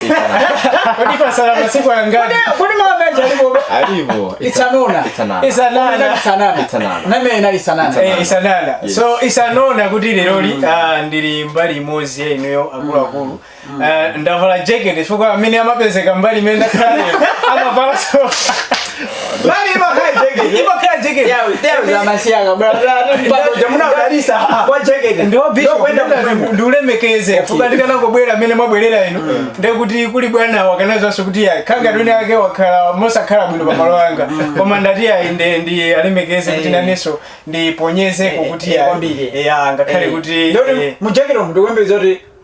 Kodi patsala masiku angati? Kodi mawu akaja alipo? Alipo. Isanona. Isanana. Isanana. Isanana. Isanana. Name ina isanana. Eh, isanana. Yes. So isanona kuti leroli mm. ah, ndili mbali imodzi ineyo akulu akulu. Mm. Mm. Ah, ndavala jacket chifukwa amene amapezeka mbali imene ndakhala. Amavala so. Mami imakhala jekete. Imakhala jekete. Yeah, we- there is a masianga, bro. Bado jamuna udalisa kwa jekete. Ndio bishop Ndio kwenda kwenda kumwembo. ndiulemekeze chifukwa ndikanangobwera amene mwabwerera inu ndiye kuti kuli bwana akanadziwanso kuti ayi khanga twene ake wakhala mosakhala bwino pamalo anga koma ndati ayi ndi- ndi alemekeze kuti Eh. nanenso ndiponyezeko Eh, kuti eh, ayi kwambiri. ya ngakhale Eh, kuti ndoti eh, mujekete umu ndikuyembekeza kuti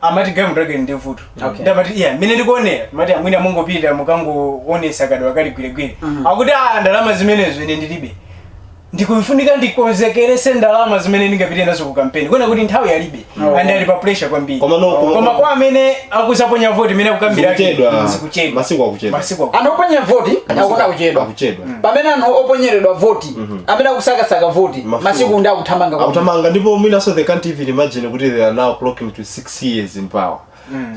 amati galimoto yake ndi vuto Okay. ndi amati iya mmene ndikuonera mati amwene mungopita mukangoonetsa kadwa kali gwiregwire Mhm. akuti a ndalama zimenezo ine ndilibe ndikufunika ndikonzekeretse ndalama zimene ndingapite nazo ku kampeni kuona kuti nthawi yalibe Oh. and ali pa pressure kwambiri Koma no- koma- koma kwa amene akudzaponya voti imene akukambira ake Zikuchedwa. zikuchedwa Masiku akuchedwa. masiku akuchedwa. anthu oponya voti akuti akuchedwa akuchedwa pamene anthu oponyeredwa voti amene akusakasaka voti Mafumu. masiku ndi akuthamanga kwambiri. akuthamanga ndipo mwinanso they can't even imagine kuti they are now clocking to six years in power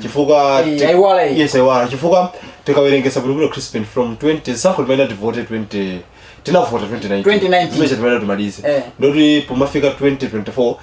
chifukwa Eh, ti- aiwala iyi. yes aiwala chifukwa tikawerengesa bwinobwino crispin from 20 chaka timayenda tivote 20 tinavota 2019 2019. Zimene timene timalize Eh. ndoti pomafika 2024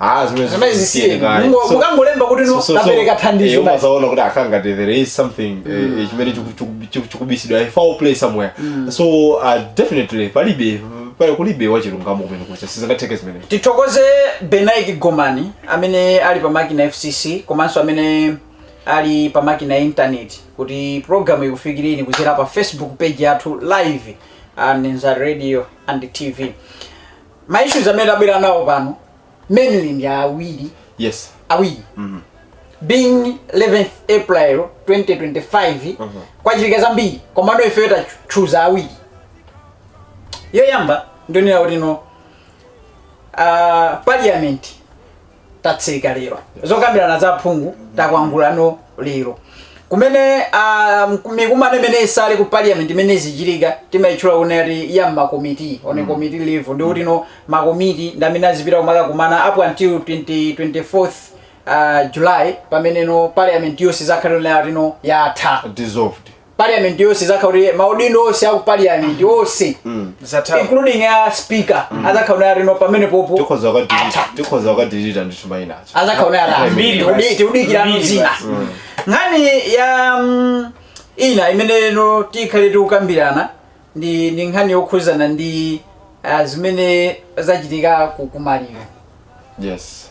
Ah, zimene Zimene zisiyeni zisiyeni. kale. Mungo- So- mukangolemba kuti no, tapereka thandizo Eh, basi. umadzaona kuti akanga there is something eh, chimene chiku- chiku- chiku- chikubisidwa eh, foul play somewhere so uh, definitely palibe pali kulibe zachilungamo kumene kucha sizingatheke zimene tithokoze Benedict Gomani amene ali pa makina fcc komanso amene ali pa makina ya intaneti kuti programu ikufikireni kudzera pa facebook page yathu live and nza radio and tv ma issues amene tabwera nawo pano mainly ndi awiri yes awiri being 11th april 2025 kwachitika zambiri komano ifeyo tachooza awiri yoyamba ndi yonena kuti no uh, parliament tatseka lero zokambirana za aphungu takwangulano lero kumene uh, mikumano imene itsale ku parliament imene izichitika timayitchula kunena kuti ya makomiti on mm. committee level ndi kuti no makomiti ndi amene azipita kumakakumana up until 20, 24th uh, july pamene no parliament yonse izakhale itatino yatha dissolved parliament yonse izakhala kuti maudindo onse aku parliament onse atha including a speaker azakhala kuti alino pamene popo tikhoza kukadirita tikhoza kukadirita ndi chuma inacho azakhala kuti arani Mbiri basi. Tikudi- tikudikira Mbiri zina basi. nkhani yi mm, ina imene no tikhale tikukambirana ndi ndi nkhani yokhuzana ndi ah, zimene zachitika ku kumaliro yes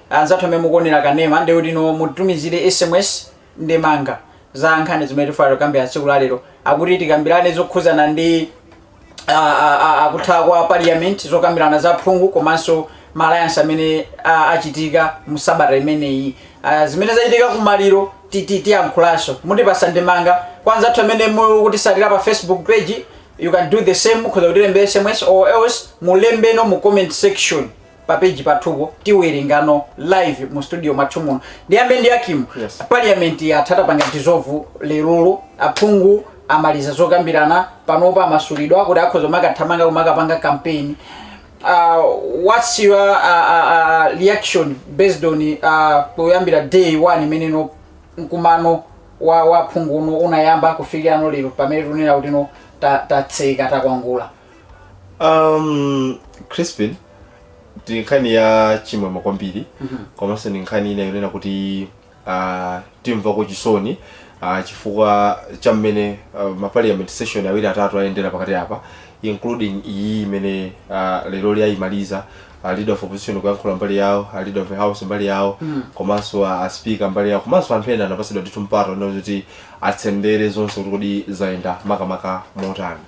Anzathu amene mukuonera kanema ndiye kuti mutumizire sms ndemanga za nkhani zimene tifuna kukambirana tsiku la lero. Akuti tikambirane zokhudzana ndi kutha kwa parliament, zokambirana za aphungu komanso ma alliance amene achitika mu sabata imeneyi. Zimene zachitika ku maliro tiyankhulanso. Mutipatsa ndemanga. Kwa anzathu amene mukutitsatira pa Facebook page, you can do the same. Mukhoza kutilembera sms or else mulembeno mu comment section. pa page pathupo tiwerengano live mu studio mwathu muno ndiyambe ndi a Kim Yes. parliament yatha tapanga dissolve lerolo aphungu amaliza zokambirana panopa amasulidwa kuti akhoza kumakathamanga kumakapanga campaign uh, what's your uh, uh, uh, reaction based on uh, kuyambira day one imene no mkumano wa wa aphungu uno unayamba kufikirano lero pamene tunena kuti no ta- tatseka takwangula um, crispin ndi nkhani ya chimwemwe kwambiri komanso ndi nkhani ina yonena kuti uh, timvako chisoni uh, chifukwa cha mmene uh, ma parliament session awiri atatu ayendera pakati apa including iyi imene uh, lero lija ayimaliza a leader of opposition kuyankhula mbali yawo a leader of the house mbali yawo komanso a a speaker mbali yawo komanso anthu ena anapatsidwa ndithu mpata onena kuti atsendere zonse kuti kodi zayenda makamaka motani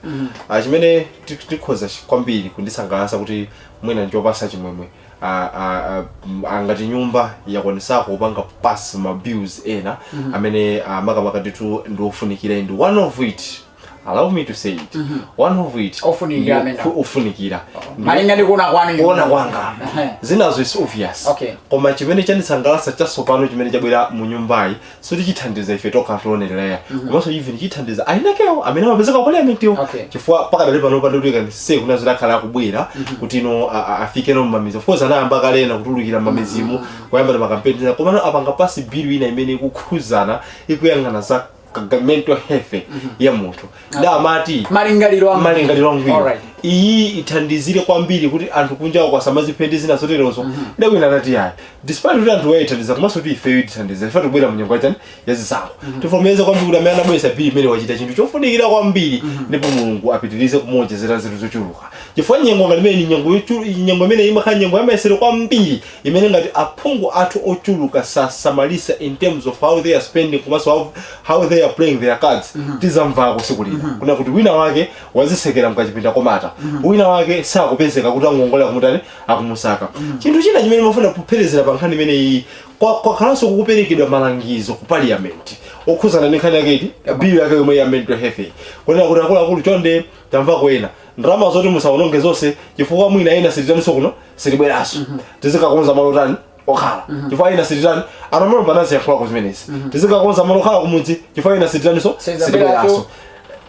Ah, chimene ti- tikhoza chi- kwambiri kundisangalatsa kuti mwina ndichopatsa chimwemwe a- a- a- m- angati nyumba yakwanitsako kupanga pass ma bills ena amene ah, makamaka ndithu ndiofunikira ndi one of it allow me to say it one of it Ofunikira ndi amene. ofu- ofunikira Ndi- malinga ndi kuona kwanu inu. kuona kwanga Ehe. zinazo is obvious Okay. koma chimene chandisangalatsa chatsopano chimene chabwera mu nyumbayi sikuti chithandiza ife tokha oonerera komanso even chithandiza ayinakewo amene amapezeka ku parliament yo Okay. chifukwa pakadali pano pandotulika ndise kunena zoti akhala akubwera kuti ino a- a- afike no mmamidzi of course anayamba kale na kutulukira mmamidzimu kuyamba na makampeni komano apanga pass bill ina imene ikukhuzana ikuyang'ana za ka- mental health ya munthu nda amati malingaliro a malingaliro angwiro Alright. iyi ithandizire kwambiri kuti anthu kunjaku asamadziphe ndi zina zoterezo nde wina anati yayi despite kuti anthuwa iwathandiza komanso kuti ifeyo itithandiza ife tikubwera mu nyengo yachani yazisankho tifotokoze kwambiri kuti amene anabweretsa bili imene wachita chinthu chofunikira kwambiri ndipo mulungu apitirize kumuwonjezera zinthu zochuluka chifukwa nyengo ngati imene ni nyengo yochu- nyengo imene imakhala nyengo yamayesero kwambiri imene ngati aphungu athu ochuluka sasamalisa in terms of how they are spending komanso how, how they are playing their cards tidzamvako tsiku lina kunena kuti wina wake wadzitsekera mkachipinda komata wina wake sakupezeka kuti angongolera kumutani akumusaka chinthu china chimene ndimafuna kupherezera pa nkhani imene iyi kwa- kwakhalanso kukuperekedwa malangizo ku parliament okhuzana ndi nkhani yake iti bill yake yomwe ya mental health iyi kunena kuti akuluakulu chonde tamvako ena ndalama zoti musawononge zonse chifukwa mwina ena sititaninso kuno sitibweranso tizikakonza malo tani okhala chifukwa ena sititani a Namalomba nawonso ayankhulako zimenezi tizikakonza malo okhala kumudzi chifukwa ena sititaninso Sitibweranso. sitibweranso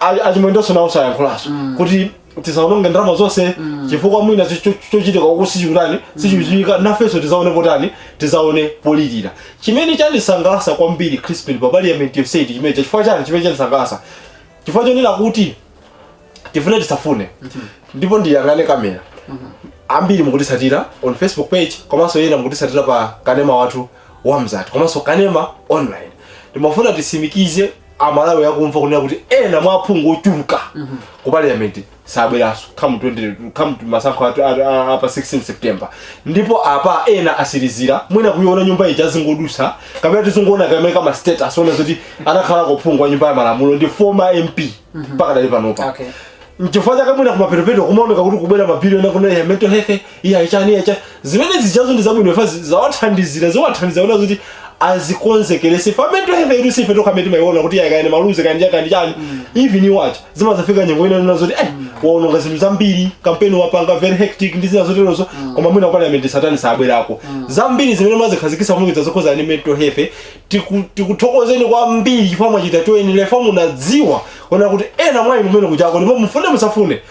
A- a Chimwendonso nawonso ayankhulanso kuti tisawononge ndalama zonse chifukwa mwina cho- cho- chochitika uku sichikutani sichikuchitika nafenso tizaone potani tizaone polirira chimene chandisangalasa kwambiri crispin pa parliament yonseyi ndi chimene chifukwa chani chimene chandisangalasa chifukwa chonena kuti tifune tisafune ndipo ndiyang'ane kamera ambiri mukutitsatira on facebook page komanso ena mukutitsatira pa kanema wathu wa mzati komanso kanema online timafuna titsimikize amalawi akumva kunena kuti ena mwa aphungu ochuluka ku parliament sabweranso come 20 come to masankho athu- athu- a- apa 16 september ndipo apa ena atsirizira mwina kuiona nyumba ija azingodutsa kapena tizingoona kaya m'ma status kunena zoti anakhalako phungu wa nyumba ya malamulo ndi former mp pakadali panopa Okay. nchifukwa chake mwina kumapetopeto kumaoneka kuti kubwera ma bili onga akunena ya mental health iya chani iya chani zimene zijazo ndi zabwino chifukwa zi- zawathandizira ziwathandiza kunena kuti azikonzekeretse ife amene tuluza sife tokha amene timaiona kuti iya kaya ndi maluzi kani kaya ndi chani even iwo aja zimazafika nyengo ina kunena zoti eh waononga zinthu zambiri kampeni wapanga very hectic ndi zina zoterozo koma mwina parliament satani sabwerako zambiri zimene umadzikhazikitsa mulungu zazokhoza ni mental health tiku- tikuthokozeni kwambiri chifukwa mwachita choyenera chifukwa munadziwa kunena kuti ena mwa inu kumene kuchako ndipo mufune musafune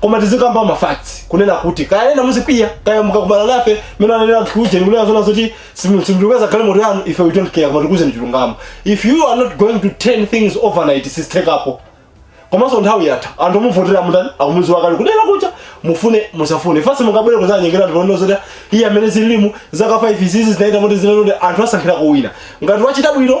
koma tizikamba ma facts kunena kuti kaya ena muzikwiya kaya mukakumana nafe mene anena anthu uje ndikunena zona zoti simuipeza galimoto yanu ife we don't care koma tikuuzeni chilungamo if you are not going to turn things overnight sizithekapo komanso nthawi yatha anthu okuvotera mutani akumudziwa kale kudera kucha mufune musafune fasi mungabwere kuzanyengera anthu kunena zoti iye amene zili mu zaka 5 zizi sanachita moti zinanode anthu asankhira kuwina ngati wachita bwino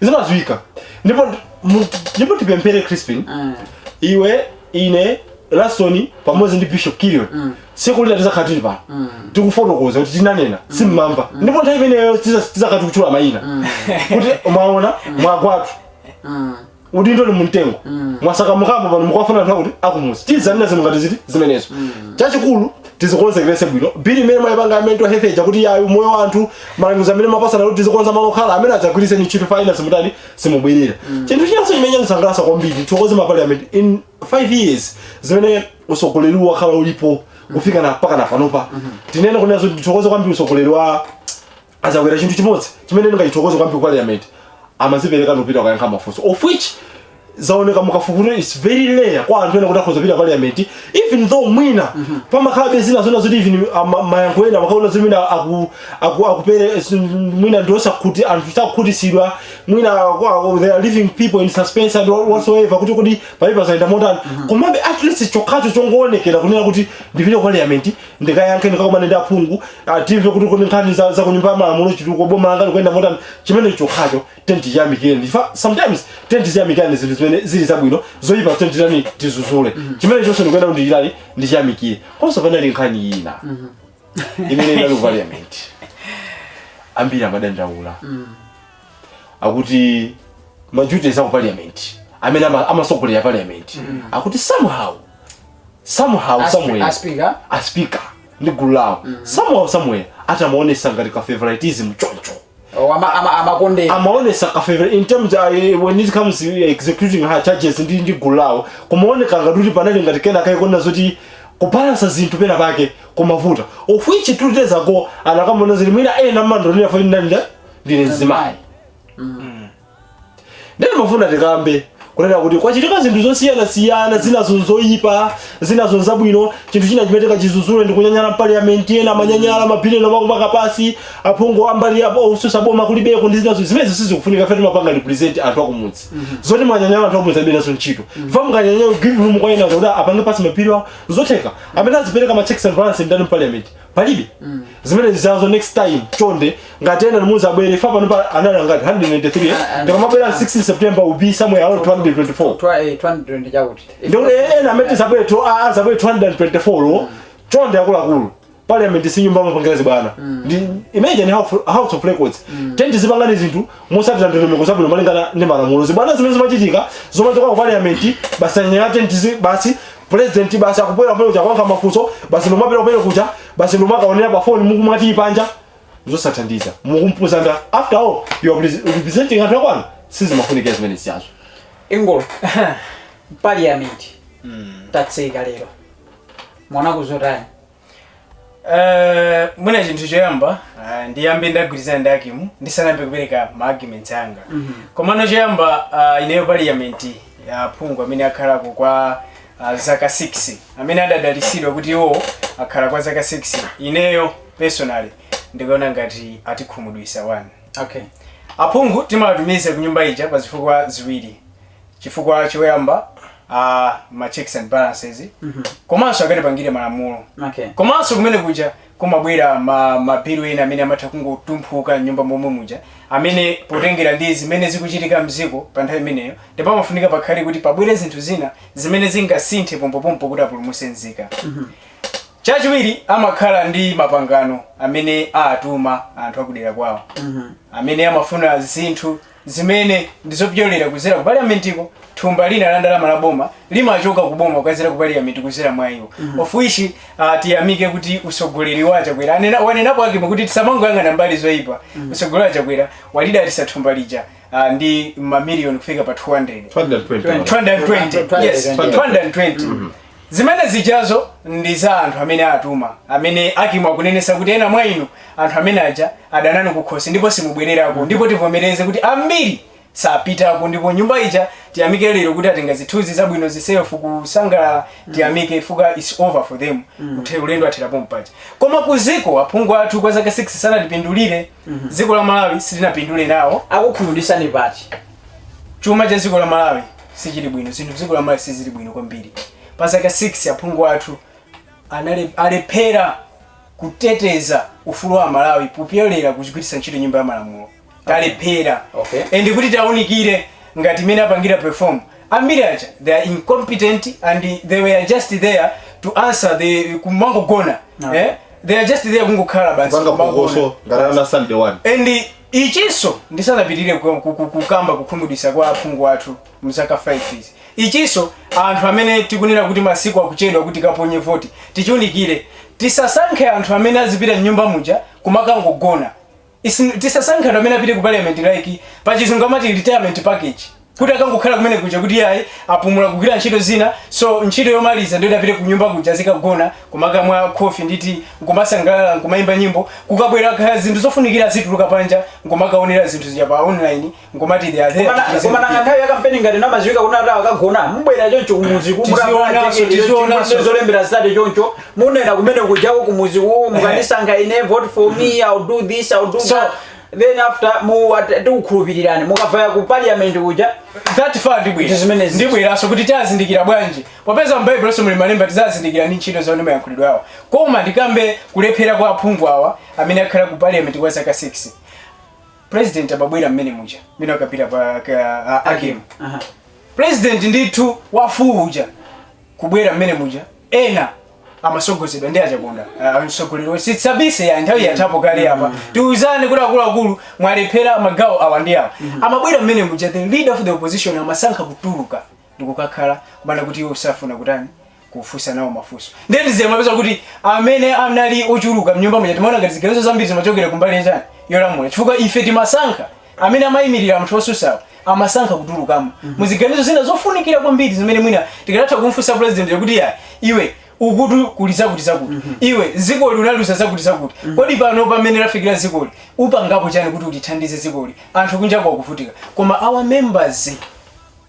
zimadziwika ndipo mu- ndipo tipemphere crispin Mm. iwe ine Lastoni pamodzi ndi bishop kilion Mm. tsiku lina tizakhala tili pano Mm. tikufotokoza kuti tinanena simumamva ndipo nthawi imeneyo tizakhala tikutchula mayina kuti mwaona mwagwatu Mm. udindo ni mumtengo mwatsakamukamo pano mukwafuna nthawi kuti akumuzi tizanena zinthu ngati zitizo zimenezo chachikulu tizikonzekeretse bwino bili imene mwayipanga ya mental health ija kuti yayo moyo wa anthu malangizo amene mwapatsana kuti tizikonza malo okhala amenewo adzagwiritseni ntchito chifukwa enanu simutani mutani simubwerera chinthu chinanso chimene chandisangalatsa kwambiri tithokoze ma parliament in 5 years zimene usogoleri wakhala ulipo kufika na mpaka na panopa tinene kunena zoti tithokoze kwambiri usogoleri wa azakwera chinthu chimodzi chimene ndingachithokoze kwambiri ku parliament amazipereka nopita kukayankha mafunso of which zaoneka mu kafukufuku is very rare kwa anthu ena kuti akhoza kupita parliament even though mwina pamakhalabe zina zona zoti even ama- mayankho ena makaona zoti mwina aku- aku- akupere s- mwina ndiosakuti anthu sakukhutisidwa mwina aku- aku- they are leaving people in suspense and all- whatsoever kuti kodi pali zayenda motani komabe at least chokhacho chongoonekera kunena kuti ndipite ku parliament ndikayankhe ndikakumane ndi aphungu ah, timve kuti kodi nkhani za za kunyumba ya malamulo chitukuko boma langa likuyenda motani chimene chokhacho tiyeni tichiyamikire ife sometimes tiyeni tiyamikireni zinthu zimene zili zabwino zoyipa tiyeni titani tizuzule chimene chonse ndikunena kuti chitani ndichiyamikire konso panali nkhani ina imene inali ku parliament ambiri amadandaula akuti ma duties aku parliament amene ama- amasogolera parliament akuti somehow somehow As- somewhere a speaker? a speaker ndi gulu lawo somehow somewhere ati amaonesa ngati ka favoritism choncho Oh, ama- ama- amakondera amaonesa ka favor in terms uh, when it comes to executing her charges ndi ndi gulu lawo kumaoneka ngati kuti panali ngati kenaka ukuona zoti kubalansa zinthu pena pake kumavuta of which two days ago anakamuona zija mwina ena mumandionera pa ndanda ndine mzimayi ndiye ndimafuna tikambe kunena kuti kwachitika zinthu zosiyanasiyana zinazo zoyipa zinazo zabwino chinthu china chimene tikachizuzule ndi kunyanyala mpaliyamenti ena amanyanyala ma bill yoni amakupanga pass aphungu a mbali yosusa boma kulibeko ndi zinazo zimenezo sizikufunika ife timapanga represent anthu akumudzi zoti mwanyanyala anthu akumudzi alibe nazo ntchito fa mukanyanyala give room kwa ena kuti apange pass ma bill wa zotheka amene azipereka ma checks and balance ndani mpaliyamenti palibe zimene zijazo next time chonde ngati ena inu muzabwere fa pano pa anali ngati 193 Ah, ah, ndi pomabwera ah. 16 september will be somewhere around 224 Twa- eh, 220 chakuti ndikuti ena amene azabwere to a- azabwere 224 lo chonde akuluakulu parliament si nyumba yomapangira zibwana Ndi- imagine House- house of records tiyeni tizipanga zinthu mosatira ndondomeko zabwino malingana ndi malamulo zibwana zimene zimachitika zomachoka ku parliament basi kunyanyala tiyeni tizi- basi president basi akubwera paja kuja kuyankha mafunso basi nomapita paja kuja basi nomakaonera pa phone mukumati panja zosathandiza mukumpusitsa ndani after all you are repres- representing anthu akwanu sizimafunika zimene zijazo ingolo parliament tatseka lero mwana kuzotani Eh, mwina chinthu choyamba ah, ndiyambe ndagwirizana ndi Hakimu ndisanayambe kupereka ma arguments anga komano choyamba ah, ineyo parliament ya aphungu amene akhalako kwa ah, zaka 6 amene adadalisidwa kuti iwo akhala kwa zaka 6 ineyo personally ndikuona ngati atikhumudwisa wani okay aphungu timawatumiza ku nyumba ija pa zifukwa ziwiri chifukwa choyamba ma checks and balances komanso akatipangire malamulo Okay. komanso kumene kuja kumabwera ma mabilu ena amene amatha kungotumphuka nyumba momwe muja amene potengera ndi zimene zikuchitika mziko pa nthawi imeneyo ndipo pamafunika pakhale kuti pabwere zinthu zina zimene zingasinthe pompopompo kuti apulumutse nzika chachiwiri amakhala ndi mapangano amene atuma anthu akudera kwawo amene amafuna zinthu zimene ndi zopyolera kuzera ku paliamentiko thumba lina la ndalama la boma limachoka ku boma kukazera ku paliamenti kuzera mwa iwo of which uh, tiyamike kuti usogoleri wa chakwera anena wanenapo Hakimu kuti tisamangoyang'ana mbali zoyipa usogoleri wa chakwera walidalitsa thumba lija uh, ndi mamiliyoni kufika pa 200 220. 220 yes 220 Zimene zijazo ndi za anthu amene atuma, amene Hakimu akunenesa kuti ena mwa inu, anthu amene aja, adana nanu kukhosi ndipo simubwererako, ndipo tivomereze kuti ambiri sapitako, ndipo nyumba ija tiyamike lero kuti atenga zithunzi zabwino zi selfie kusangalala, tiyamike chifukwa it's over for them, Uthe- ulendo wathera pompaja. Koma ku ziko aphungu athu kwa zaka 6 sanatipindulire, ziko la Malawi silinapindule nawo, akukhumudwitsani pati chuma cha ziko la Malawi sichili bwino zinthu m'dziko la malawi sizili bwino kwambiri pa zaka 6 aphungu athu anale- alephera kuteteza ufulu wa amalawi kupyolera kugwiritsa ntchito nyumba ya malamulo talephera Okay. and kuti taunikire ngati mmene apangira perform ambiri aja they are incompetent and they were just there to answer the kumangogona eh? they are just there kungokhala basi kupanga kumangogona. phokoso ngala ngati sitandade one and Ichinso, ndisanapitirire ku- ku- ku- kukamba kukhumudwitsa kwa aphungu athu mzaka 5 izi ichinso anthu amene tikunena kuti masiku akuchedwa kuti tikaponye voti tichiunikire tisasankhe anthu amene azipita mnyumba muja kumakangogona Isi- tisasankhe anthu amene apite ku parliament like pachizungu amati retirement package kuti akangokhala kumene kuja kuti ayi apumula kugwira ntchito zina so ntchito yomaliza ndiyo apite kunyumba kuja azikagona kumakamwa khofi ndi tii nkumasangalala nkumayimba nyimbo kukabwera kaya zinthu zofunikira azituluka panja nkumakaonera zinthu zija pa online nkumati they are there to present koma nanga nthawi ya kampeni ngati zimaziwika kuti ata akagona mubwera choncho kumuzi Tizionaso, tizionaso. zolembera zitatu choncho munena kumene kujako kumuzi kuwo mukandisankha ine vote for me I'll do this I'll do so that then after mu at- tikukhulupirirani mukavaya ku parliament kuja that far ndibwera Ndi zimenezi. ndibweranso kuti tazindikira bwanji popeza mbaibuloso muli malemba tizazindikira ndi ntchito zawo ndi mayankhulidwe awo koma ndikambe kulephera kwa aphungu awa amene akhala ku parliament kwa zaka 6 president akabwera momwe muja mmene akapita pa ka- a- Hakimu Aha. president ndithu wafuko uja kubwera momwe muja ena amasogozedwa ndi a Chaponda ah, mtsogoleri wo- sitsabise ya nthawi yathapo kale apa tiuzane kuti akuluakulu mwalephera magawo awa ndi awa amabwera mmene muja the leader of the opposition amasankha kutuluka ndikukhala kumakana kuti iwo sakufuna kutani kufunsa nawo mafunso nde ti- zimapezeka kuti amene anali ochuluka mnyumba muja timaona ngati ziganizo zambiri zimachokera kumbali yachani yolamula chifukwa ife timasankha amene amayimirira anthu osusawo amasankha kutulukamo muziganizo zina zofunikira kwambiri zimene mwina tikanatha kumfunsa president kuti ayi iwe ukutu kuli zakuti zakuti iwe zikoli unaliuza zakuti zakuti kodi pano pamene lafikira zikoli upangapo chani kuti utithandize zikoli anthu kunjako akuvutika koma our members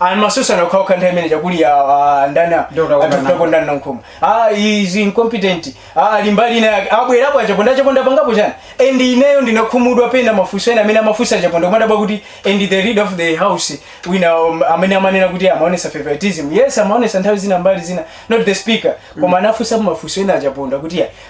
ayi amasusana okhaokha nthawi imene chakuli a- a- ndani a- Ndio utaona atakutako ndani nankhoma ah is incompetent ah mbali ina yake abwerapo a Chaponda Chaponda pangapo chani and ineyo ndinakhumudwa pena mafunso ena amene amafunsa a Chaponda kumadabwa kuti and the leader of the house wina um, amene amanena kuti amaonesa favoritism yes amaonesa nthawi zina mbali zina not the speaker koma anafunsa mafunso ena a Chaponda kuti ya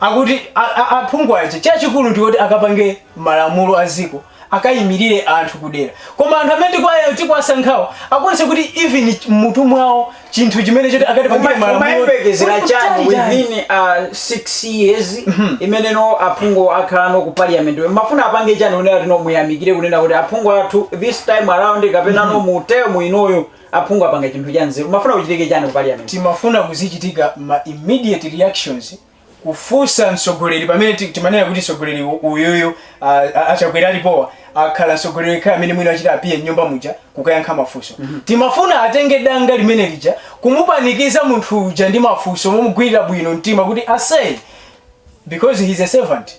Akuti aphungu aja chachikulu ndikuti akapange malamulo a dziko akayimilire anthu ku dera koma anthu amene tikuwasankhawo akuonetsa kuti even m'mutu mwawo chinthu chimene choti akatipangire malamulo umayembekezera chani within 6 uh, years mhm. imene ino aphungu akhala ku parliament mumafuna apange chani kunena kuti no muwayamikire kunena kuti aphungu athu this time around kapena no mhm. mu term inoyo Aphungu apanga chinthu cha nzeru. Mumafuna kuchitike chani ku parliament? Timafuna muzichitika ma immediate reactions kufunsa mtsogoleri pamene timanena kuti mtsogoleri uyuyu a Chakwera alipowa akhala mtsogoleri yekhayo amene mwina achita appear mnyumba muja kukayankha mafunso. Mm -hmm. Timafuna atenge danga limene lija kumupanikiza munthu uja ndi mafunso momugwirira bwino mtima kuti asay because he is a servant.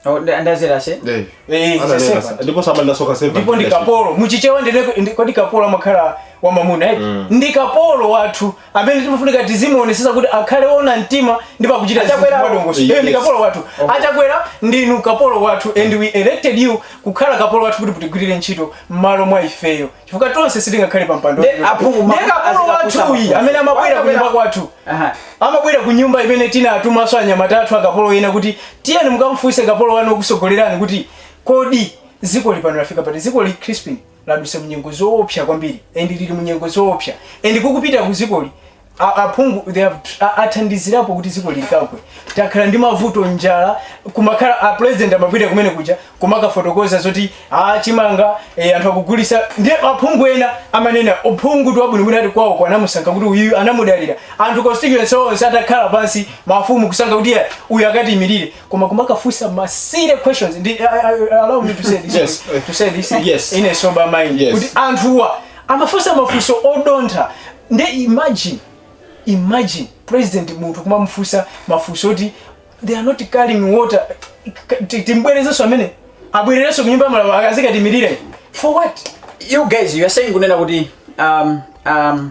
Oh, that- that's what I say Eh. Eh, Ana sasa. nena- ndipo samanda soka servant. ndipo ndi kapolo muchichewa ndine ndi- kodi kapolo amakhala wa mamuna eti ndi kapolo wathu amene timafunika tizimuonesesa kuti akhale ona mtima ndi pakuchita zinthu Achakwera- mwadongosolo Yes. Eh, ndi kapolo wathu a Chakwera ndinu kapolo wathu and we elected you kukhala kapolo wathu kuti mutigwirire ntchito m'malo mwa ifeyo chifukwa tonse sitingakhale pa mpando Nde aphungu ma- nde kapolo azikafusa wathu uyu mafunso. amene amabwera ku nyumba kwathu Aha. amabwera ku nyumba imene tinatumanso anyamata athu akapolo ena kuti tiyeni mukamfunse kapolo wanu wokusogolerani kuti kodi zikoli pano lafika pati zikoli Crispin ladusa munyengo zoopsa kwambiri and lili munyengo zoopsa and kukupitaku zikoli A- aphungu they have tr- a- athandizirapo kuti dziko likagwe takhala ndi mavuto njala kumakhala a president amapita kumene kuja kumakafotokoza zoti a chimanga e, anthu akugulisa ndi aphungu ena amanena uphungu ndi wabwino mwina kuti kwawoko anamusankha kuti uyu anamudalira anthu constituency onse atakhala pansi mafumu kusankha kuti "Yeah, uyu akatiimirire koma kumakafunsa ma serious questions ndi I- I- I- allow me to say this Yes. to say this Yes. in a sober mind Yes. kuti anthuwa amafunsa mafunso odontha nde imagine imagine president munthu kumamufunsa mafunso oti they are not carrying water Ti- timbwerezenso amene abwererenso kunyumba ya malamulo akazikatiimirira for what you guys you are saying kunena kuti um, um,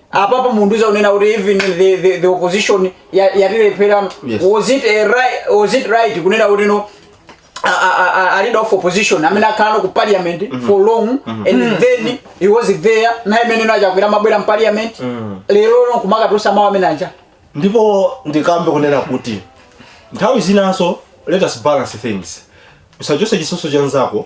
apapa mundiuza kunena kuti even the, the, the opposition ya- yatilepherano Yes. was it a right, was it right kunena kuti no a- a- a- a- a leader of opposition amene akhala ku parliament for long and then he was there nthawi imene a Chakwera amabwera mu parliament lerono kumakatulutsa mawu amene aja ndipo ndikambe kunena kuti nthawi zinanso let us balance things usachotse chitsotso cha nzako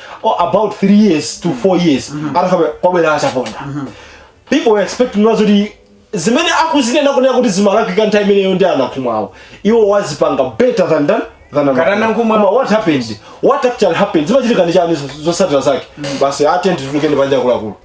close to about three years to four years atakhala kwabwera a Chaponda people were expecting nazoti zimene akuzinena kunena kuti zimalakwika nthawi imeneyo ndi a Nankhumwawo iwo azipanga better than than than Ngati a Nankhumwa. Koma what happened what actually happened zimachitika ndi chani zosatira zake basi attend tulukeni panja kulakulu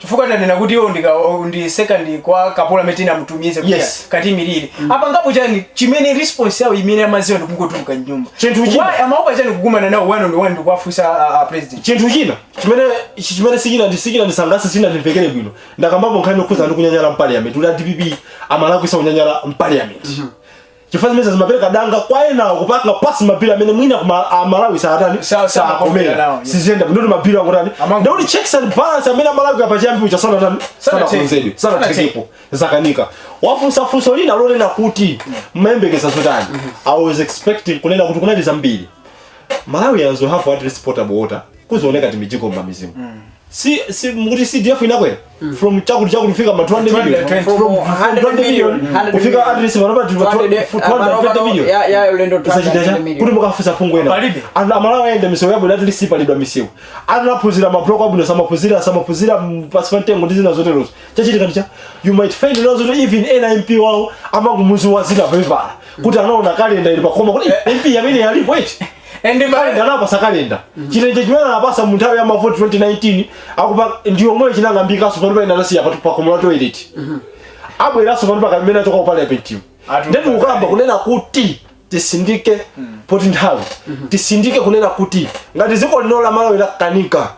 chifukwa tanena kuti iwo ndika ndi second kwa kapolo amene tinamutumiza kuti Yes. katiimirire apangapo chani chimene response yawo imene amadziwa ndikungotuluka mnyumba Chinthu china. Why amaopa chani kukumana nawo one on one ndikuwafunsa a- a president chinthu china chimene chi- chimene sichina ndi sichina ndisangalatsa sichina ndimvekere bwino ndakambapo nkhani yokhuza ndi kunyanyala mu parliament kuti a dpp amalakwitsa kunyanyala mu parliament chifukwa zimenezi zimapereka danga kwa enawo kupanga pass ma bill amene mwina kuma- aMalawi sawatani Sa- samakomera sakomera nawo, yeah. siziyenda ndikuti ma bill angotani Amango- ndikuti checks and balance amene aMalawi kapena chiyani uja sanatani Sanatheke. sanakonzedwe sanathekepo zakanika mwafunsa funso lina lonena kuti mmayembekeza zotani i was expecting kunena kuti kumadera ambiri malawians will have at least potable water kuzioneka timijiko m'mamidzimu si si mukuti cdf inakwera from chakuti chakuti kufika ma 200 million 220. from From 100 200 million million, 100 kufika million. at least panopa ndi 200, 220 million ya- ya ulendo kusachitacha 200 kuti million. mukafunsa phungu wina Palibe. anthu a Malawi ayenda misewu yabwino at least palidwa misewu anaphunzira mabuloko abwino samaphunzira samaphunzira mm, pansi pa mtengo ndi zina zoterozo chachitika ndichani you might find nazoti even ena mp wawo amangomudziwa dzina papepala kuti anaona kalenda ili pakhoma kuti "Eh, mp amene alipo eti and kalenda anapatsa kalenda chilenje chimene anapatsa mu nthawi ya mavoti 2019 akuba ndiyomwe chinang'ambikanso pano pa ine anasiya patu pakomo la toilet abweranso pano panthawi imene achoka ku parliamentimu Atu- ndetu ukamba kunena kuti tisindike poti nthawi tisindike kunena kuti ngati dziko lino la Malawi lakanika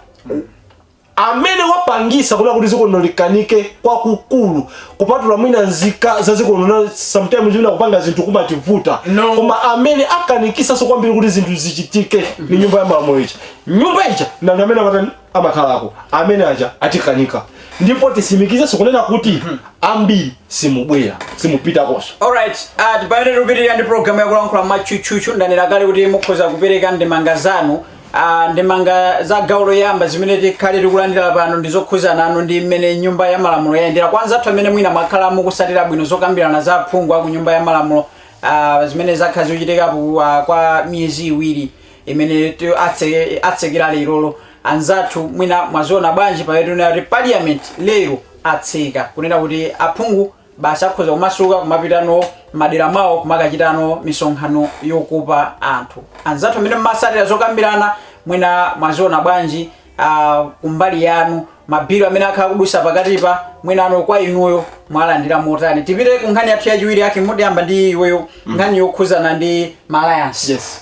amene wapangitsa kunena kuti dziko lino likanike kwakukulu kupatula mwina nzika za dziko lino sometimes wina kupanga zinthu kumativuta no. koma amene akanikitsanso kwambiri kuti zinthu zichitike ndi nyumba ya malamulo ija nyumba ija ndi anthu amene amatani amakhalako amene aja atikanika ndipo titsimikizenso kunena kuti mhm. ambiri simubwera simupitakonso alright uh, tipaende tikupitirira ndi programu yakulankhula m'matchutchutchu ndanena kale kuti mukhoza kupereka ndemanga zanu Ah, ndemanga za gawo loyamba zimene tikhale tikulandira pano ndi zokhuza nanu ndi mmene nyumba ya malamulo yayendera kwa anzathu amene mwina mwakhala mukutsatira bwino zokambirana za aphungu a ku nyumba ya malamulo ah, zimene zakhala zikuchitika ah, kwa miyezi iwiri imene ti- atse- atsekera lerolo anzathu mwina mwaziona bwanji pamene tikuona kuti parliament lero atseka kunena kuti aphungu basi akhoza kumasuka kumapitano madera mwawo kumakachitano misonkhano yokopa anthu anzathu amene mumatsatira zokambirana mwina mwaziona bwanji uh, kumbali yanu mabhilo amene akhala akudutsa pakatipa mwinano kwa inuyo mwalandira motani tipite ku nkhani yathu yachiwiri yake ndiyamba ndi iweyo nkhani yokhuzana ndi ma alliance yes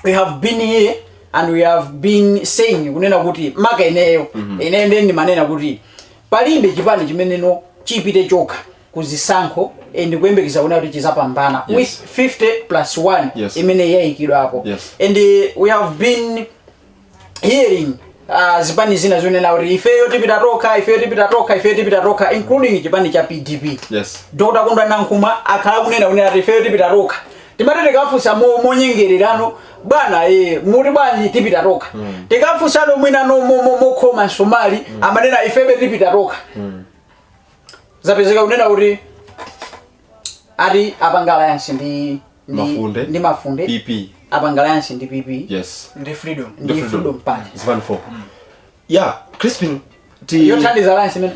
we have been here and we have been saying kunena kuti maka ineyo ineyo ndiye ndimanena kuti Palibe chipani chimeneno chipite chokha ku zisankho and kuyembekeza kunena kuti chizapambana Yes. with 50 plus 1 Yes. imene yaikidwa apo Yes. and uh, we have been hearing uh, zipani zina zikunena kuti ifeyo tipita tokha ifeyo tipita tokha ifeyo tipita tokha including chipani cha pdp Yes. dr kondwa nankhumwa akhala akunena kunena kuti ifeyo tipita tokha timati tikafunsa mo- monyengererano bwana e, muti bwanji tipita tokha mm. tikafunsano mwina mokhoma msomali mm. amanena ifebe tipita tokha mm. zapezeka kunena kuti ati apanga alliance ndi mafunde ndi mafunde pp apanga alliance ndi pp yes ndi freedom ndi freedom party zipani 4 mm. yeah crispin ndi yothandiza alliance imene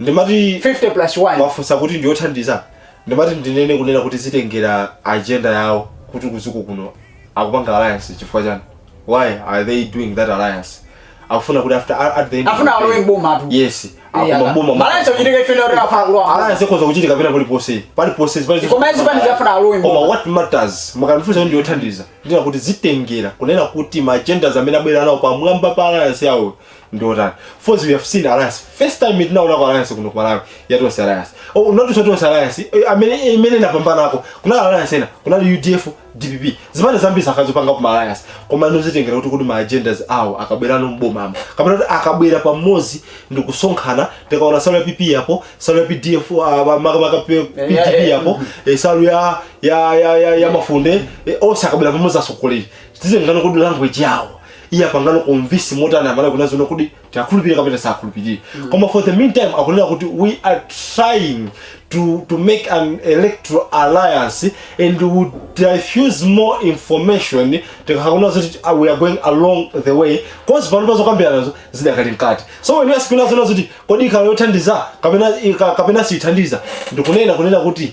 ndimati 50 plus 1 mwafunsa kuti ndiyothandiza ndimati ndinene kunena kuti zitengera agenda yawo kuti kudziko kuno akupanga alliance chifukwa chani why are they doing that alliance akufuna kuti after at the end of Afuna the day- alowe m'boma tu. yes Yeah, akuma ma- alliance ochitika ifeyo kuti afuna kulowa m'boma. alliance ikhoza kuchitika pena pali ponse pali ponse zipali zonse- Koma zipani zafuna alowe m'boma. koma what matters mukandifunsa kuti ndiyothandiza ndinena kuti zitengera kunena kuti ma agendas amene abwera nawo pamwamba pa alliance yawo ndi otani first we have seen alliance first time tinaonako alliance kuno ku malawi ya tonse alliance oh, not so tonse alliance eh, amene imene inapambanako kunali alliance ena kunali udf dpp zimene zambiri sakadzipanga kuma alliance koma ndozitengera kuti kuti ma agendas awo akabwerano m'bomamo kapena kuti akabwera pamodzi ndi kusonkhana tikaona nsalu ya pp yapo nsalu ya pdf ah, ma- ma- maka P- Yeah, yeah, pdp yeah. yapo eh, nsalu ya ya ya ya, ya mafunde eh, onse akabwera pamodzi asokoleri tidziwano kuti language yawo iye apangano convince motani amene akunena zoona kuti tiakhulupirire kapena tisakhulupirire koma for the meantime akunena kuti we are trying to, to make an electoral alliance and would diffuse more information tikakaona zoti uh, we are going along the way cause panopa zokambiranazo zidakali mkati so when you ask kunena zoti kodi ikhala yothandiza kapena ika- kapena siithandiza ndikunena kunena kuti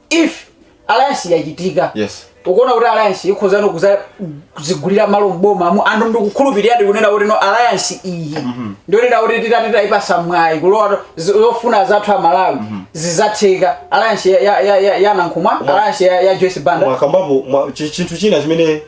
if alliance yachitika yes ukuona kuti alliance ikhozano kuzigulira malo mboma mu anthu ndikukhulupirira kunena kuti no alliance iyi mhm. ndionera kuti titati tayipasa mwayi kulowa zofuna zathu amalawi mhm. zizatheka alliance ya nankhumwa alliance ya joyce banda mwakambapo chinthu china chimene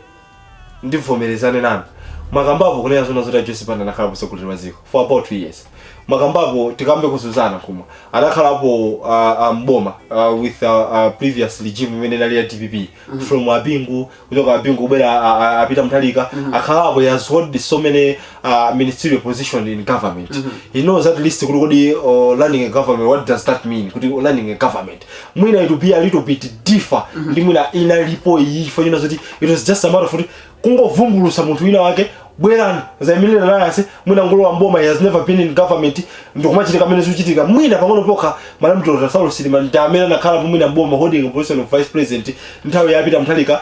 ndivomerezane nanu mwakambapo kunena zona zoti a joyce banda anakhala mtsogoleri wa dziko for about 2 years mwakambapo tikambe kuzuzana koma anakhalapo uh, uh, mboma uh, with uh, uh, previous regime imene inali ya dpp from abingu kuchoka abingu kubwera uh, uh, a peter mutharika akhalapo he has held so many uh, ministerial position in government mm -hmm. he knows at least kuti uh, running a government what does that mean kuti running a government mwina it will be a little bit differ mm -hmm. ndi mwina inalipo iyi chifukwa china zoti it was just a matter of kuti kungovumbulusa munthu wina wake bwerani zaimirire alliance mwina ngolowa mboma he has never been in government ndikumachitika mmene zikuchitika mwina pang'ono pokha madam dr saulos chilima ndi amene anakhala mwina mboma holding a position of vice president nthawi ya peter mutharika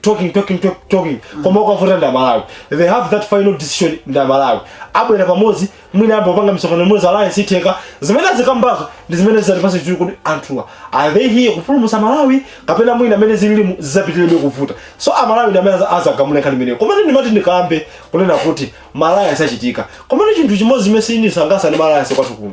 talking talking talk- talking koma zikavuta ndi amalawi they have that final decision ndi amalawi abwere pamodzi mwina ambo panga misonkhano imodzi alliance itheka zimene azikambazo ndi zimene zizatipasa chithunzi kuti anthuwa are they here kupulumutsa malawi kapena mwina mmene zililimu zizapitirebe kuvuta so amalawi ndi amene aza- azagamula nkhani imeneyo komano ndimati ndikambe kunena kuti ma alliance achitika komano chinthu chimodzi chimene sichindisangalasa ndi ma alliance kwathu kuno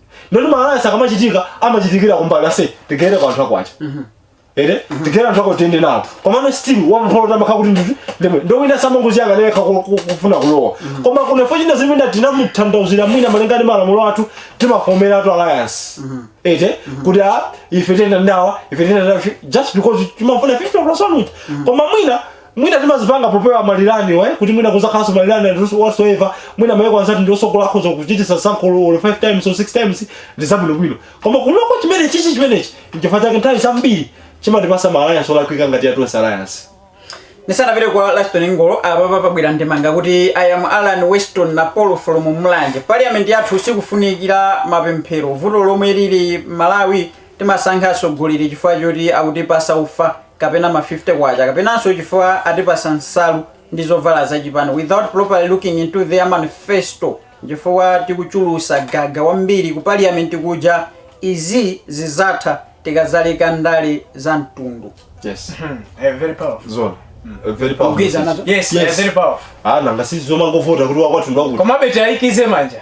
ndoti maalliance akamachitika amachitikira kumbali yoti tigere kwa anthu ako aja mhm. ere mhm. tigere anthu ako tiende nawo komano still wampholo amakhala kuti nditi ndimwe ndowina samangoziyanga leka kufuna kulowa mhm. koma kuno fo china zimene tinamuthandauzira mwina malinga ndi malamulo athu timafomeratu alliance eti kuti a ah, ife tienda ndawa ife tienda ndawa just because timafuna 50 plus 1 koma mwina mwina timazipanga popewa ma rerun we kuti mwina kuzakhalanso ma rerun and whatsoever mwina mayiko anzathu ndi otukuka akhoza kuchitisa sankholo 5 times or 6 times ndi zabwinobwino koma kunoko chimene chichi chimenechi nchifukwa chake nthawi zambiri chimatipasa ma alliance olakwika ngati ya tonse alliance ndisanapite kwa laston ngolo apapa pabwera ndemanga akuti i am alan weston na paul from mulanje parliament yathu sikufunikira mapemphero vuto lomwe lili malawi Timasankha atsogoleri chifukwa choti akutipasa ufa kapena ma 50 kwacha kapenanso chifukwa atipasa nsalu ndi zovala za chipani without properly looking into their manifesto nchifukwa tikuchulusa gaga wambiri ku parliament kuja izi zizatha tikazaleka ndale za mtundu Yes. Eh, very powerful. Zoona. Very powerful. Kugwirizana nazo. Yes, Yes. eh, very powerful. Ah, nanga si zomangovota kuti wakwathu ndwakuti. Komabe tiyikize manja.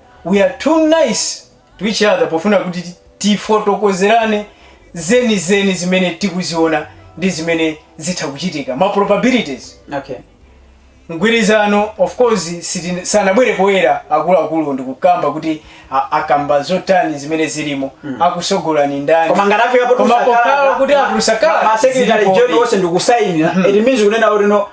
we are too nice to each other pofuna kuti tifotokozerane zenizeni zimene tikuziona ndi zimene zitha kuchitika ma probabilities okay mgwirizano of course sitine- sanabwere poyera akuluakulu ndikukamba kuti a- akamba zotani zimene zilimo akusogolani ndani koma ngati afika Koma pokhala kuti akusakala ma secretary general onse ndikusainira it means kunena kuti no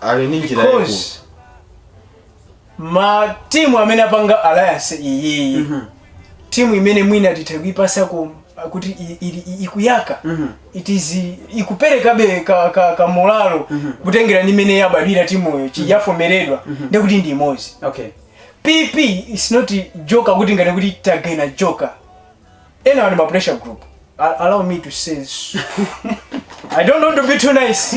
ali ndi njira yaikulu because ma timu amene apanga alliance iyiyi Mhm. timu imene mwina titha kuipasako kuti i- ili- i- ikuyaka Mhm. it is ikuperekabe ka, ka, ka molalo kutengera ndi mmene yabadwira timuyo chiyavomeredwa ndekuti ndi imodzi okay pp is not a joker kuti nkunena kuti tagaina joker enawa ndi ma pressure group A- allow me to say this. i don't want to be too nice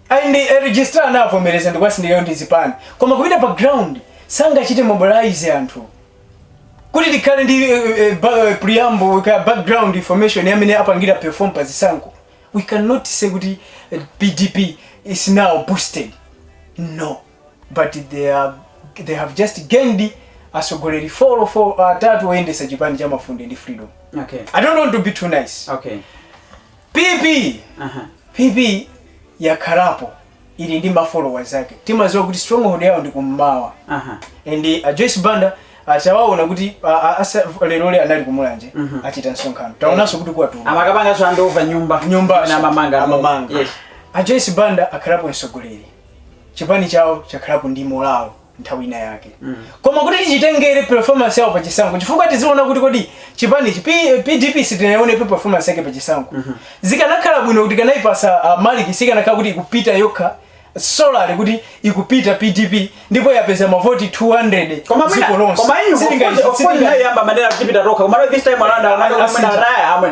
Ayi ndi a registrar anavomereza ndikuwasindikiza ndi zipani koma kupita pa ground sangachite mobilize anthu kuti tikhale ndi eh, eh, ba- eh, preamble ka background information ya mmene apangira perform pa zisankho we cannot say kuti eh, pdp is now boosted no but they, are, they have just gained atsogoleri folo folo atatu oyendesa chipani cha mafunde ndi freedom Okay. i don't want to be too nice Okay. pp Aha. pp yakhalapo ili ndi mafollowa zake timaziwa kuti stronghold yawo ndi kummawa Aha. and uh, joyce banda atawaona kuti uh, uh, asa- leroli anali kumulanje Mhm. achita msonkhano taonanso kuti kwathu amakapanganso andova nyumba nyumba Kapena amamanga amamanga Yes. a joyce banda akhalapo mtsogoleri chipani chawo chakhalapo ndi molalo nthawi ina yake koma kuti tichitengere performance yawo pa chisankho chifukwa tiziona kuti kodi chipani chi- P- pdp sitinaionepo performance yake pa chisankho zikanakhala bwino kuti kanayipasa uh, maliki sikanakhala kuti ikupita yokha solari kuti ikupita pdp ndipo yapeza mavoti 200 dziko mwina lonse koma inu Sitinga- of course of course sitinga- nawo ayamba kumanena tipita tokha koma this time around amene Asintha. anaya amwe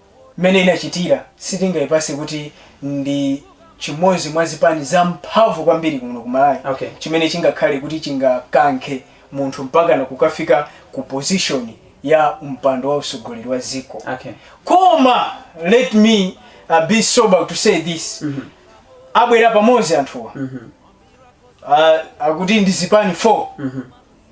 mmene inachitira sitingaipase kuti ndi chimodzi mwa zipani zamphamvu kwambiri kuno ku malawi Okay. chimene chingakhale kuti chingakankhe munthu mpakana kukafika ku position ya mpando wa usogoleri wa dziko Okay. koma let me uh, be sober to say this abwera pamodzi anthuwa uh, akuti ndi zipani 4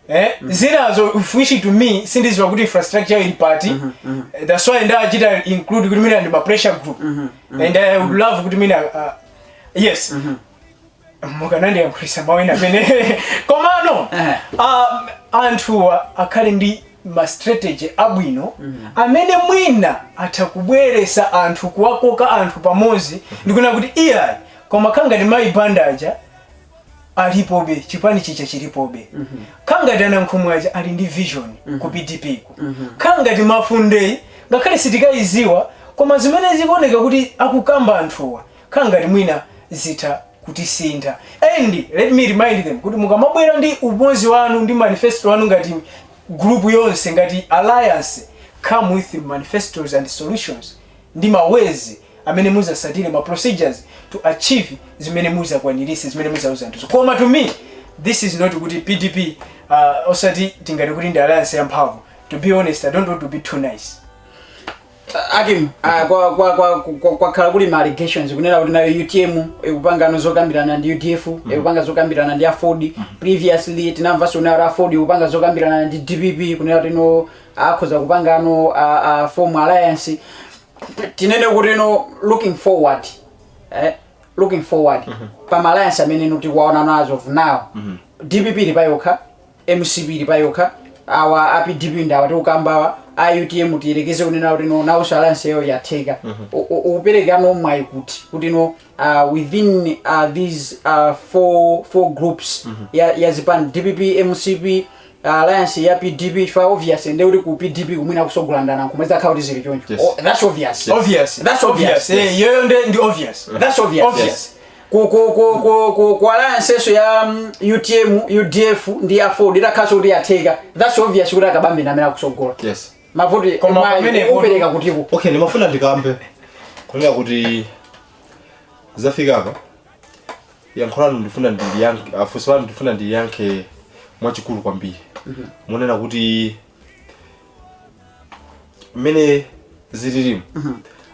Eh, zinazo of which to me sindiziwa kuti infrastructure ili party mm -hmm, mm -hmm. that's why ndachita include kuti mina ndi ma pressure group mm -hmm, and i would love kuti mwina uh, yes mm -hmm. mukanandiyankhulisa mwina pena komano eh. um, anthuwa akhale ndi ma strategy abwino mm -hmm. amene mwina atha kubweresa anthu kuwakoka anthu pamodzi mm -hmm. ndikunena kuti iyayi koma nkhani ngati mayi banda aja alipobe chipani chija chilipobe khala ngati anankhumwa aja ali ndi vision ku pdp ku khala ngati mafundeyi ngakhale sitikaidziwa koma zimene zikuoneka kuti akukamba anthuwa khala ngati mwina zitha kutisintha and let me remind them kuti mukamabwera ndi umozi wanu ndi manifesto wanu ngati group yonse ngati alliance come with manifestos and solutions ndi mawezi amene muzasatire ma procedures to achieve zimene muzakwanirise zimene muzauza anthuzo koma to me this is not kuti pdp uh, osati tingati kuti ndi alliance yamphamvu to be honest i don't want to be too nice akim ah, kwa- kwa- kwa- kwa- kwakhala kuli ma allegations kunena kuti nayo utm ikupanga no zokambirana ndi udf ikupanga zokambirana ndi aford previously tinamvanso kunena kuti aford ikupanga zokambirana ndi dpp kunena kuti no akhoza kupangano a- a form alliance tinene kuti no looking forward eh? looking forward pa ma alliance amene inu mukuwaona no as of now dpp ili payokha mcp ili payokha awa apdp ndi awa tikukambawa autm tiyerekeze kunena kuti no nawo alliance yawo yatheka U- u- ukupereka no mwayi kuti kuti no uh, within uh, these uh, four, four groups mm -hmm. ya, ya zipani dpp mcp uh, alliance ya pdp chifukwa obvious nde kuti ku pdp kumene akusogola ndi anankhumwa zakhala kuti zili choncho Yes. oh, that's obvious Yes. obvious That's obvious. Eh, yoyo nde ndi obvious that's obvious, Obvious. Yes. Ku, ku, ku, ku, ku, ku alliance yinanso ya mm, utm udf ndi aford itakhalanso kuti yatheka that's obvious kuti akabambe ndi amene akusogola yes mavoti Koma mayi, pamene- upereka kutiko okay ndimafuna ndikambe kunena kuti zafika apa yankho lanu ndifuna ndiyankhe funso lanu ndifuna ndiyankhe mwachikulu kwambiri munena kuti mmene zililimu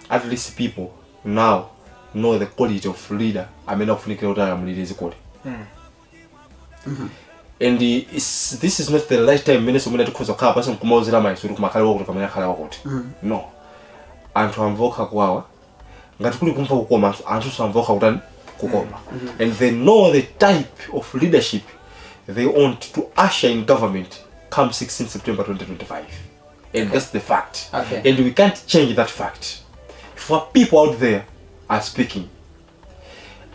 at least people now know the quality of leader amene akufunikira kuti alamulire zikoli Mhm. and is, this is not the right time mmenenso mmene tikhoza kukhala pansi nkumauzana maganizo kuti kumakhala wakuti pamene akhala wakuti Mhm. no anthu amva okha kuwawa ngati kuli kumva kukoma anthu- anthu amva okha kutani kukoma and they know the type of leadership they want to usher in government come 16 september 2025 and that's the fact Okay. and we can't change that fact for people out there are speaking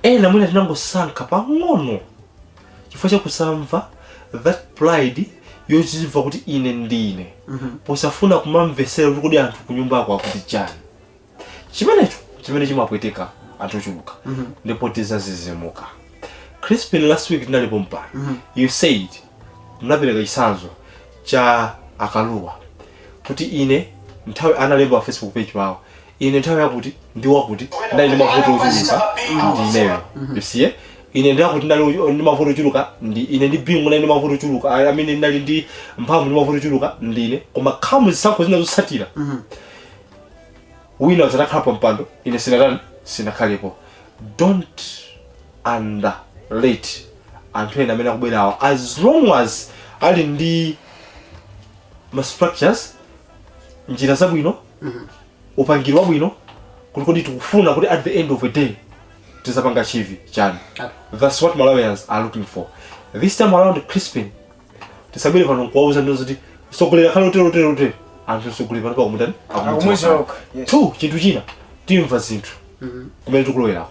ena mwina tinangosankha pang'ono chifukwa cha kusamva that pride yozimva kuti ine ndine posafuna kumamvesera kuti kodi anthu kunjako akuti chani chimenecho chimene chimapweteka anthu ochuluka ndipo tizazizimuka crispin last week tinalipo mpano you said munapereka chisanzo cha akaluwa kuti ine nthawi analemba pa facebook page pawo ine nthawi yakuti ndi wakuti ndinali ndi mavuto ochuluka ndi ineyo you see eh? ine ndi akuti ndinali ochu- ndi mavuto ochuluka ndi ine ndi bingu ndinali ndi mavuto ochuluka I- amene ndinali ndi mphamvu ndi mavuto ochuluka ndi ine koma khamu zisankho zina zotsatira wina uzadzakhala pa mpando ine sinatani sinakhalepo don't underrate anthu ena amene akubwera awa as long as ali ndi ma structures njira zabwino upangiri wabwino kuti kodi tikufuna kuti at the end of the day tizapanga achieve chani that's what malawians are looking for this time around crispin tisabwere pano nkuwauza zoti sogoleri akhale utero utero utero anthu sogoleri pano pakumutani Akumudzoka, yes. two chinthu china timva zinthu kumene tikulowerako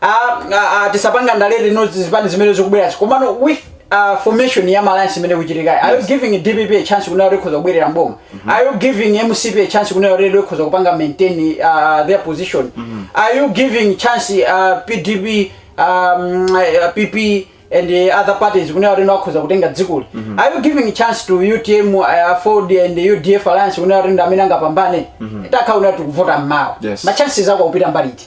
Ah, ah, ah, tisapanga ndale no zipani zimene zikubwerazi komano with ah, formation ya alliance imene ikuchitikayi are you giving dpp a chance kunena kuti ikhoza kubwerera mboma are you giving mcp a chance kunena kuti ikhoza kupanga maintain ah, their position are you giving chance ah, pdp um, ah, pp and eh, other parties kunena kuti akhoza kutenga dzikoli are you giving chance to utm aford and udf alliance kunena kuti ndi amene angapambane takhala kuti tikuvota mmawa Yes. ma chances akupita mbali iti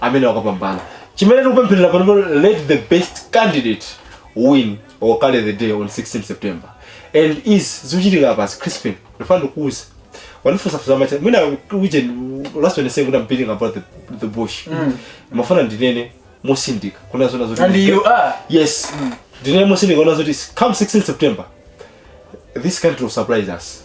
amene akapambana chimene tikupempherera panopo let the best candidate win or carry the day on 16 september ndi izi zikuchitika pansi crispin ndifuna ndikuuze wandifunsafunsa mwacha mwina uje last one saying kuti i'm beating about the, the bush ndimafuna ndinene motsindika kunena zoona zoti and you are yes ndinene motsindika kunena zoti come 16 september this country will surprise us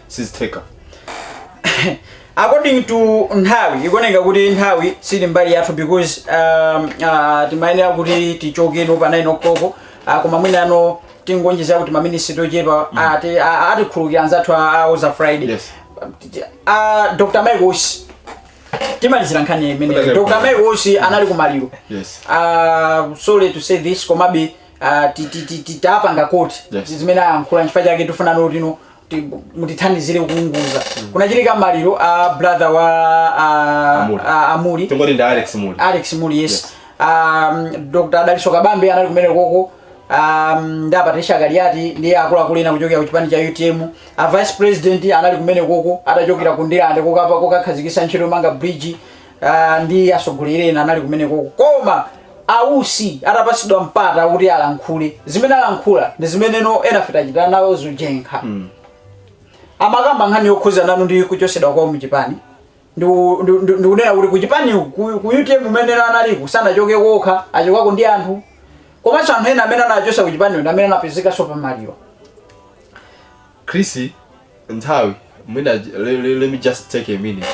sizitheka according to nthawi ikuoneka kuti nthawi sili mbali yathu because um, uh, timayenera kuti tichoke muno pa 9 o'clock uh, koma mwinano tingoonjezako timaminisi tochepa mm. ati a- atikhululukira anzathu a- awo za friday Yes. uh, dr michael usi timalizira nkhani ya imeneyo Kutaka- dr michael usi anali kumaliro Yes. uh, sorry to say this komabe uh, ti- ti- ti- ti- tapanga quote Yes. zimene ayankhula nchifukwa chake tifunano tino kuti mutithandizire kuunguza kunachitika maliro a brother wa a, Amuri. a, a muli tingoti ndi alex muli alex muli yes, Yes. Um, dr dalitso kabambe anali kumene koko um, ndi apatricia kaliati ndiye akuluakulu ena kuchokera ku chipani cha utm a vice president anali kumene koko atachokera ku ndirande kokapa kokakhazikisa ntchito yomanga bridge Ah, ndi atsogoleri ena anali kumeneko koma a usi atapatsidwa mpata kuti alankhule zimene alankhula ndi zimene ena afika pochita nawo jenkha mm. amakamba nkhani yokhuzana ndi kuchosedwa kwawo muchipani ndikunena kuti kuchipani ku utm umene analiko sanachokeko okha achokako ndi anthu komanso anthu ena amene anachosa kuchipani ndi amene anapezekanso pamalirowa Chris nthawi mwina le- le- let me just take a minute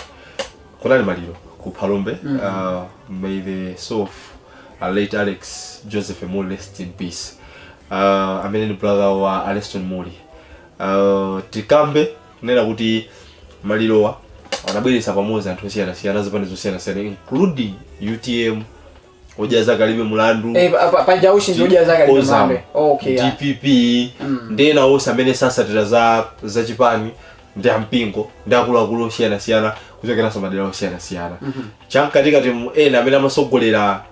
kunali maliro ku phalombe uh, may the soul of uh, late alex joseph mulli rest in peace uh, amene ni brother wa aleston mulli uh, tikambe kunena kuti malirowa anabweretsa pamodzi anthu osiyanasiyana zipani zosiyanasiyana including utm odya zake alibe mulandu Eh, pa- pa- paja usi ndi odya zake alibe Ozam, mulandu. Oh, okay, yeah. dpp ndi ena onse amene sasatira za za chipani ndi ampingo ndi akuluakulu osiyanasiyana kuchokeranso madera osiyanasiyana chamkatikatimu ena amene amasogolera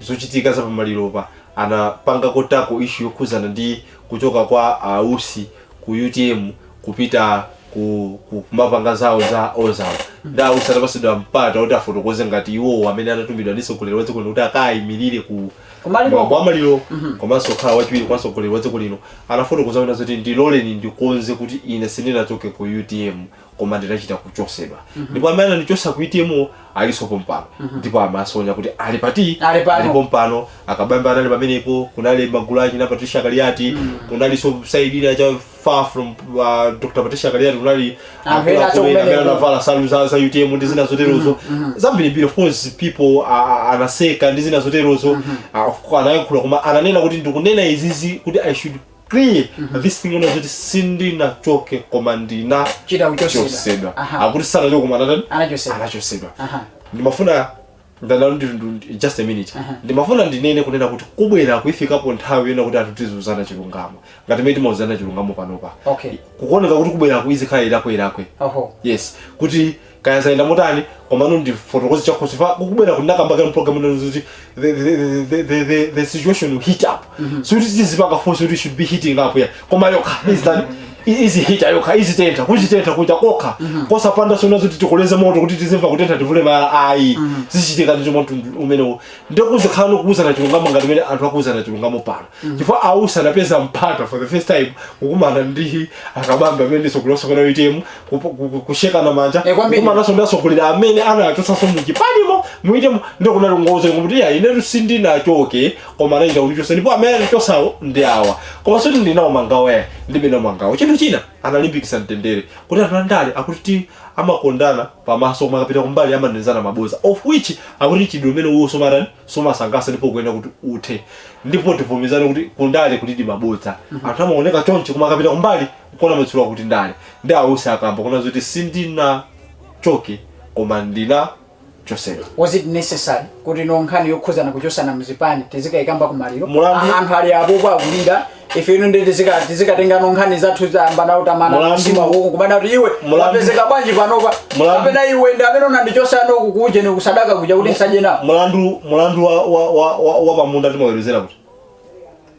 zochitika za pamaliropa anapangako tackle issue yokhuzana ndi kuchoka kwa ausi ku utm kupita ku ku- kumapanga zawo za ozam nde ausi atapasidwa mpata kuti afotokoze ngati iwowo amene anatumidwa ndi mtsogoleri wa dziko lino kuti akayimirire ku Kumaliro. mwambo wa maliro komanso kukhala wachiwiri kwa mtsogoleri wa dziko lino anafotokoza kuti zoti ndiloleni ndikonze kuti ine sindinachoke ku utm koma ndinachita kuchosedwa ndipo amene anandichosa ku utm aliso pompano ndipo amasonya kuti ali pati Ali pano. ali pompano akabambe anali pamenepo kunali magulu achina patricia kaliati kunaliso side ina cha far from uh, dr patricia kaliati kunali Anthu ena acho kumene amene ku- anavala nsalu za, za utm ndi zina zoterozo zambirimbiri of course people a- a- anaseka ndi zina zoterozo Ah, of course, anayankhula koma ananena kuti ndikunena izizi kuti i should clear this thing yonena kuti sindinachoke koma ndinachita kuchosedwa chosedwa Aha. akuti sanachoke koma anatani Anachosedwa. anachosedwa Aha. ndimafuna ndalalo ndi- ndi- just a minute ndimafuna ndinene kunena kuti kubweraku ifikapo nthawi yonena kuti anthu tiziuzana chilungamo ngati mmene timauzana chilungamo panopa Okay. kukuoneka kuti kubweraku izikhala ilakwe ilakwe oho yes kuti kaya zayenda motani komano ndifotokoze chakhosi fa kukubwera kuti nakamba kale mprogramu nanu zoti the, the, the, the, the, the situation will heat up sikuti tizipanga force kuti should be heating up ayi koma yokha izitani izihita yokha izitentha kuzitentha kuja kokha kosapanga zonena zoti tikoleze moto kuti tizimva kutentha tivule malaya ayi zichitika ndicho mtundu umenewo ndikuzikhala nokuuzana chilungamo ngati mene anthu akuuzana chilungamo pano chifukwa ausi anapeza mpata for the first time kukumana ndi akabambe amenenso kulosa kuna utm kushekana manja eh, kukumananso ndi asogoleri amene anachotsaso muchipanimo mu utm mo ndio kunali ngozi kuti ya ine sindinachoke koma anachita kundichosa ndipo amene anandichosawo ndi awa koma sikuti ndili nawo mangawa ayi ndilibe nawo mangawa chinthu china analimbikisa mtendere kuti anthu andale akuti amakondana pamaso koma akapita kumbali amanenezana maboza of which akuti mchitidwe umenewo sumatani sumasangalasa ndipo ukuyenera kuti uthe ndipo tivomerezane kuti kundale kulidi maboza mm -hmm. anthu amaoneka chonchi koma akapita kumbali Kona matchula kuti ndale ndi a Usi akamba kunena zoti sindinachoke koma ndinachosedwa. Was it necessary kuti no nkhani yokhuzana kuchosana mzipani tizikaikamba kumaliro Mulandu- anthu ali apopo akulira ife ino ndi tizika tizikatenga no nkhani zathu zoyambana tamana Mulandu- msima uko kumanena kuti iwe Mulandu- wapezeka bwanji panopa Mulandu- kapena iwe ndi amene unandichosa no kukuje ni kusadaka kuja kuti nsanje nawo Mulandu mulandu wa wa wa wa, wa pamunda timaweruzira kuti.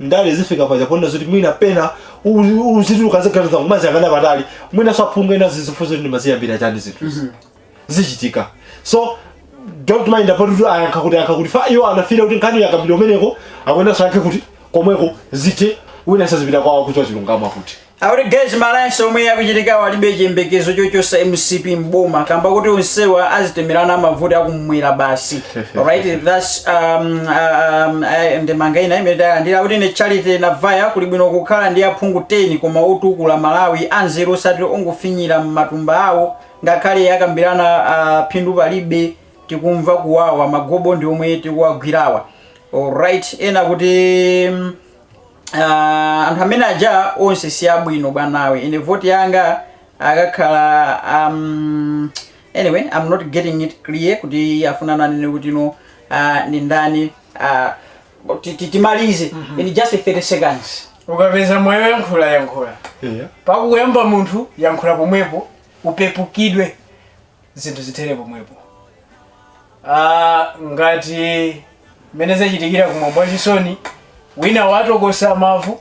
ndale zifika paja ponena zoti mwina pena u- uzituluka ziganiza kumaziyang'ana patali mwina saphunga ena uzizifunsa ndimaziyambira chani zinthu zichitika so don't mind about kuti ayankha kuti ayankha kuti fa iwo anafira kuti nkhani yakambidwa kumeneko akuyenanso ayankhe kuti komweko zithe wina azipita kwawo kuswa chilungamo akuti Akuti guys ma alliance omwe akuchitikawo alibe chiyembekezo chochosa mcp mboma kamba kuti onsewa azitemerana mavuto akumwera basi alright thats um, um, eh, ndemanga ina imene talandira akuti ndine charity navaya kuli bwino kukhala ndi aphungu 10 koma otukula malawi anzeru osati ongofinyira m'matumba awo ngakhale akambirana ah, phindu palibe tikumva kuwawa magobo ndi omwe tikuwagwirawa alright ena akuti mm, ah, anthu amene aja onse si abwino bwanawe ine voti yanga akakhala um, anyway i'm not getting it clear kuti afuna anene kuti no ah, ndi ndani ah, ti- ti- timalize in just 30 seconds ukapeza mwayi woyankhula yankhula pakuyamba munthu yankhula pomwepo upepukidwe zinthu zithere pomwepo Ah, ngati mmene zachitikira kumwambo wachisoni wina watokosa mavu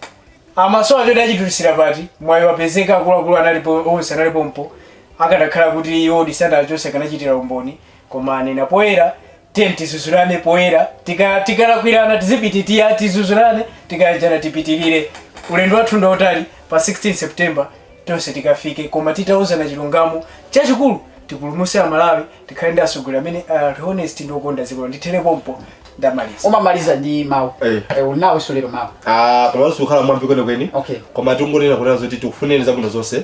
amasowa choti achitulutsira pati mwayi wapezeka akuluakulu analipo onse analipo pompo akadakhala kuti iwo disana achonse akanachitira umboni koma anena poyera tiye tizuzulane poyera tika- tikalakwirana tizipita tiye tizuzulane tikayanjana tipitirire ulendo wathu ndi wautali pa 16 september tonse tikafike koma titauzana chilungamo chachikulu tipulumuse amalawi tikhale ndi atsogoleri amene ali honest ndi okonda dziko ndithere pompo ndamaliza umamaliza ndi mawu Eh. Eh, uli nawonso lero mawu Ah, pamene sikukhala mwambi kwenikweni Okay. koma tingonena kunena zoti tikufunireni zabwino zonse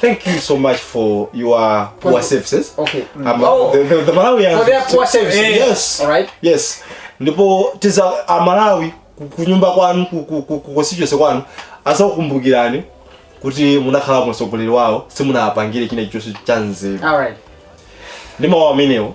Thank you so much for your poor Well, services. okay. Mm. Um, Oh. the, the, the Malawians. For their poor services. Eh, Yes. All right. Yes. Ndipo tiza amalawi ku- kunyumba kwanu ku- ku- ku- ku constituency kwanu azakukumbukirani kuti munakhala mu mtsogoleri wawo simunapangire china chonse cha nzeru All right. ndi mawu amenewo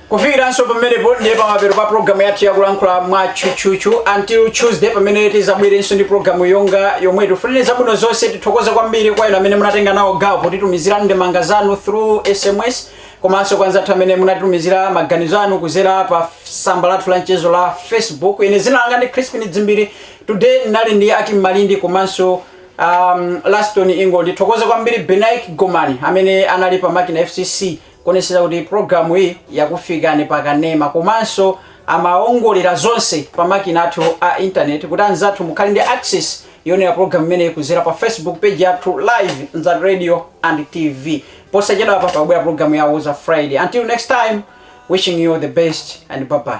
kufikiranso pamenepo ndiye pamapeto pa programu yathu yakulankhula mwa tchutchutchu until tuesday pamene tizabwerenso ndi programu yonga yomweyi tifunire zabwino zonse tithokoze kwambiri kwa inu amene munatenga nawo gawo potitumizira ndemanga zanu through sms komanso kwa anzathu amene munatitumizira maganizo anu kuzera pa samba lathu la mchezo la facebook ine zina langa ndi crispin dzimbiri today ndinali ndi akim malindi komanso um, laston ingo ndithokoze kwambiri benaik gomani amene anali pa makina fcc kuonetsetsa kuti program iyi yakufikani pa kanema komanso amaongolera zonse pa makina athu a internet kuti anzathu mukhale ndi access yonera program imeneyi kuzera pa facebook page yathu live nzati radio and tv posachedwa apa pakubwera program ya woza friday until next time wishing you the best and bye bye